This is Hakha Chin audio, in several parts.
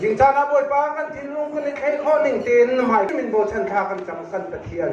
Zincan ah Bawipa kan thinlung kan i thleh khawh ning tein hmaikip in bochan thla kan cang kan Pathian.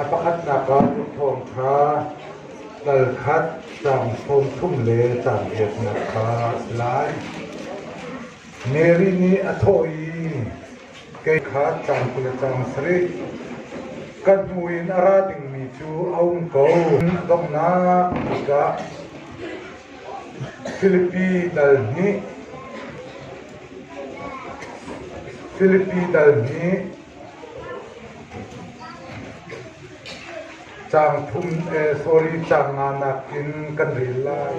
A pakhatnak ah tuakthawng ṭha, tal khat, caang sawm thum le caang riatnak kha a si lai. Mary nih a thawh i, Kei kha caang kul le caang sarih, ka hnu in a ra dingmi cu a um ko, donghnak tikah Filipi dal hnih, Filipi dal hnih, Caang thum e sorry caang nga nakin kan rel lai.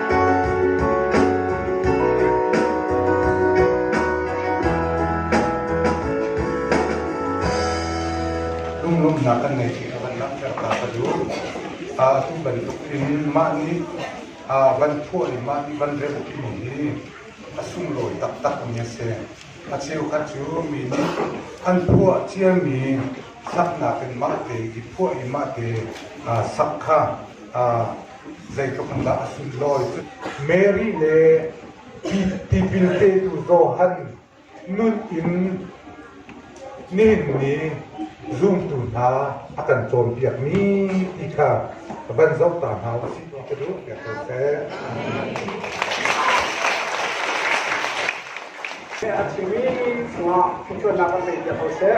Lunglawmhnak kan ngei ti kha kan langhter ta ka duh. Atu bantukin mah nih van phuah le mah nih van remh timi hi a sunglawi taktakmi a si. A cheukhat cu mi nih an phuah ciami saknak in mahte i phuah i mahte sak kha zeitluk in dah a si lawi cu Mary le tipil petu Johan nun in nihin ni zumtu hna a kan cawnpiakmi ti kha van zoh ta hna u sih ti ka duh biak ko seh. A chimmi cungah ṭhutsuannak kan pe piak ko seh.